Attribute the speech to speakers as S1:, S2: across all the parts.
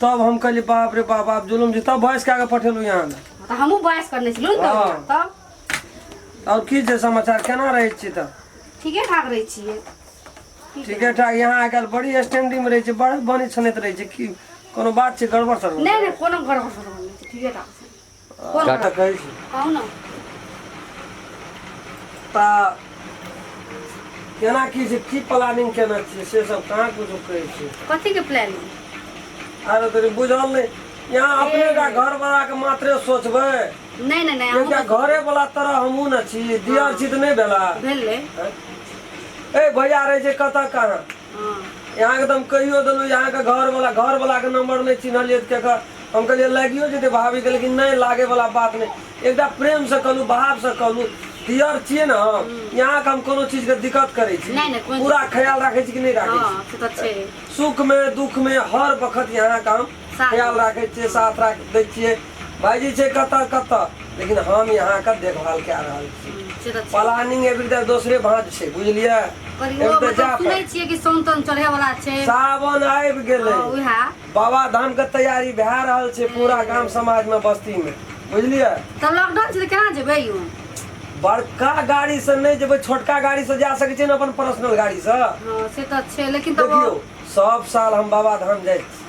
S1: तब हम कहली बाप रे बाप आप जुलुम जी तब भैंस कए के पठेलू यहाँ ने तऽ हमहूँ बहस करने छलहुँ ने हँ। तब तब आओर की छै समाचार केना रहै छी तऽ ठीके ठाक रहै छियै ठीके ठाक यहाँ आइ काल्हि बड़ी स्टैंडिंग रहै छै बड़ा बनी छनैत रहै छै की कोनो बात छै गड़बड़ सड़बड़ नहि नहि कोनो गड़बड़ सड़बड़ नहि छै ठीके ठाक छै कोन काट काज करै छी कहू ने तऽ केना की छै की प्लानिंग केना छियै से सब कहाँ कुछो कहै छियै कथी के प्लानिंग आरो तोहर बुझल नहि यहाँ अपने टा घर बला के मात्रे सोचबै नहि नहि नहि एकटा अहूँ घरे बला तरह हमहूँ ने छी दियर छी तऽ नहि भेला भेलै ए भैया रहै छै कतऽ कहाँ हँ अहाँ के तऽ हम कहियो देलहुँ अहाँ के घर वाला घर वाला के नम्बर नहि चिन्हलियै तऽ केकर हम कहलियै लागियो जेतै भाभी के लेकिन नहि लागे वाला बात नहि एकटा प्रेम से कहलहुँ भाव से कहलहुँ दियर छियै ने हम अहाँ के हम कोनो चीज के दिक्कत करै छी नहि नहि कोन पूरा ख्याल राखै छी कि नहि राखै हँ से तऽ छी छै सुख मे दुःख मे हर बखत अहाँ के हम साथ ख्याल देबै राखै छियै हँ साथ राख दै छियै भायजी छै कतऽ कतऽ लेकिन हम यहाँके देखभाल कए रहल छी हूँ से तऽ छै प्लानिंग एहिबेर तऽ दोसरे भाँज छै बुझलियै पर एहिबेर इहो तऽ जाय मतलब सुनै पड़त छियै कि सोन तन चढ़े वाला छै सावन आबि गेलै हँ उएह बाबाधाम के तैयारी भए रहल छै पूरा गाम समाज मे बस्ती मे बुझलियै तऽ लॉकडाउन छै तऽ केना जेबै यौ बड़का गाड़ी से नहि जेबै छोटका गाड़ी से जा सकै छियै ने अपन पर्सनल गाड़ी से हँ से तऽ छै लेकिन तबो देखियौ सब साल हम बाबाधाम जाइ छी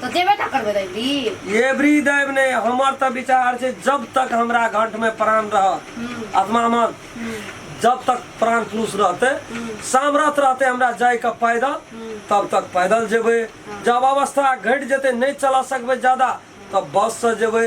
S1: तो देवे ना करबे रे भी ये ब्री देव ने हमर त विचार छे जब तक हमरा घंट में प्राण रह आत्मा मन जब तक प्राण पुरुष रहते सामरथ रहते हमरा जाय के पैदल तब तक पैदल जेबे जब अवस्था घट जेते नहीं चला सकबे ज्यादा तब बस से जेबे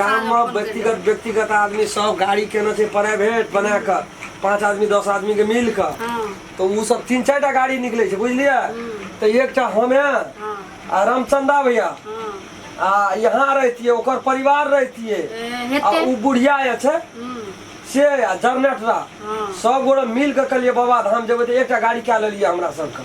S1: गाम मे व्यक्तिगत व्यक्तिगत आदमी सब गाड़ी केने छै प्राइवेट बना क पाँच आदमी दस आदमी के मिल क तऽ ओ सब तीन चारि टा गाड़ी निकलै छै बुझलियै तऽ एकटा हमे आ रामचन्दा भैया आ यहाँ रहतियै ओकर परिवार रहतियै आ ओ बुढ़िया जे छै से आ जरनेटरा सब गोरे मिल कऽ कहलियै बाबा धाम जेबै तऽ एकटा गाड़ी कए लेलियै हमरा सबके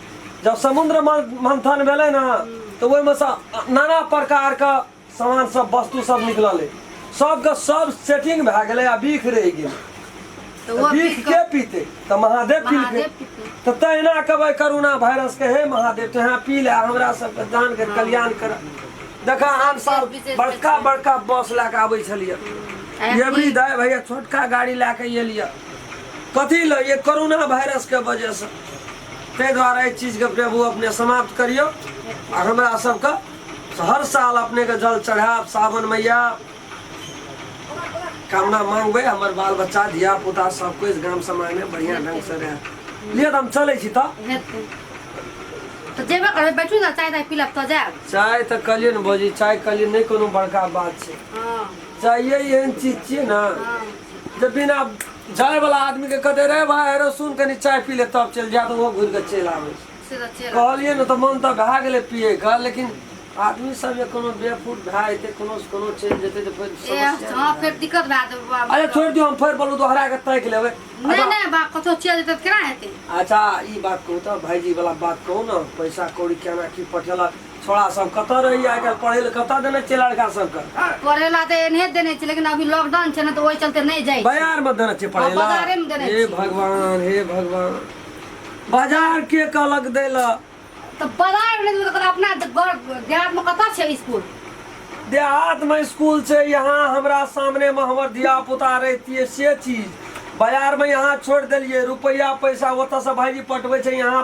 S1: जब समुद्र मंथन भेलै ने तऽ ओहिमे से नाना प्रकारके सामान सब वस्तु सब निकललै सबके सब सेटिंग भए गेलै आ बीख रहि गेलै तऽ ओ बीख बीख के कऽ- पीते तऽ महादेव पीलकै महादेव पीलकै। तऽ तहिना कहबै करुणा वायरस के हे महादेव तोहे पी ले हमरा सबके दान के कल्याण कर देखा आन साल विशेष बड़का विशेष। बड़का बस लए के आबै छलियै आइ ये भी दाय भैया छोटका गाड़ी लए के एलियै कथी लए ये कोरोना वायरस के वजह से ताहि दुआरे एहि चीजके प्रभु अपने समाप्त करियौ आ हमरा सबके हर साल अपनेके जल चढ़ायब सावन मैया कामना मांगबै हमर बाल बच्चा धिया पुता सब कुछ गाम समाज में बढ़िया ढंग से रहे लिए तऽ हम चलै छी तऽ हेतै तऽ जेबे करबै बैठू ने चाय ताय पीलब तऽ जायब चाय तऽ कहलियै ने भौजी चाय कहलियै नहि कोनो बड़का बात छै हँ चाय एहन चीज छियै ने हँ तऽ बिना जायवला आदमीके कहते रे भाय हेरो सुन कनि चाय पी ले तब चलि जायत ओहो घुरि कऽ चलि आबै छै से तऽ चलि कहलियै ने तऽ मन तऽ भए गेलै पियैके लेकिन आदमी सब जे कोनो बेफूट भए जेतै कोनो से कोनो चलि जेतै तऽ फेर ए समस्या हँ भए फेर जेतै। दिक्कत भए जेतै बाबा। अरे छोड़ि दियौ हम फेर बोलू दोहरा के ताकि लेबै नहि अच्छा, नहि बा कतहु चलि जेतै तऽ केना हेतै अच्छा ई बात कहू तऽ भाईजी वाला बात कहू ने पैसा कौड़ी केना की पठेलक छोड़ा सब कतऽ रहैया आइ काल्हि पढ़ै लए कतऽ देने छियै लड़का सबके पढ़ै लए तऽ एनहे देने छियै लेकिन अभी लॉकडाउन छै ने तऽ ओहि चलते नहि जाइ बाजार मे देने छियै पढ़ै लए हे भगवान हे भगवान बाजार के कहलक दै लए तऽ बाजार मे नहि देबै अपना देहात मे कतऽ छै स्कूल देहात मे स्कूल छै यहाँ हमरा सामने मे हमर धिया पुता रहतियै से चीज बाजार में यहाँ छोड़ दिलिए रुपया पैसा ओत से भाईजी पटबे यहाँ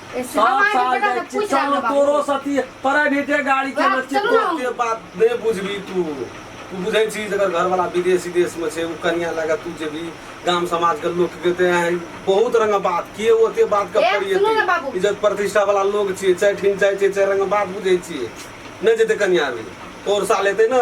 S1: ए, सब हमारे साल बेटा जाए के पूछ चलो आगे तोरो बाबू। सती प्राइवेटे गाड़ी के बाप, बच्चे चलू ना। तोते बात बे बुझबी तू तू बुझै छी जकर घर वाला विदेश विदेश में छै उ कन्या लगा तू जे भी गाम समाज के लोग के ते हैं बहुत रंग बात के ओते बात के ए, पड़ी सुनू ना बाबू। इज्जत प्रतिष्ठा वाला लोग छिए चाहे ठिन चाहे छिए चाहे रंग बात बुझै छिए नहीं जेते कन्या अभी तोर साल एते ना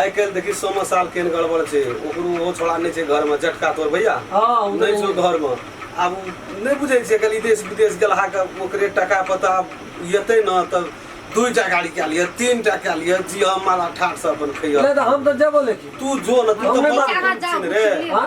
S1: आइ काल्हि देखी सोमा साल केहन गड़बड़ छै ओकरो ओहो छोड़ा नहि छै घरमे जटका तोर भैया हाँ, ओ नहि छौ घरमे आब ओ नहि बुझै छै कल देश विदेश गेलहा के ओकरे टाका पता एतै ने तऽ दुई टा गाड़ी कए लिअ तीन टा कए लिअ जी हम मारा ठाठ से अपन खैया नहीं तो हम तो जब लेकिन तू जो ने तू हम तऽ नहि बड़ा मानब। अहाँ जाउ, छी ने रे बुझलियै? हाँ?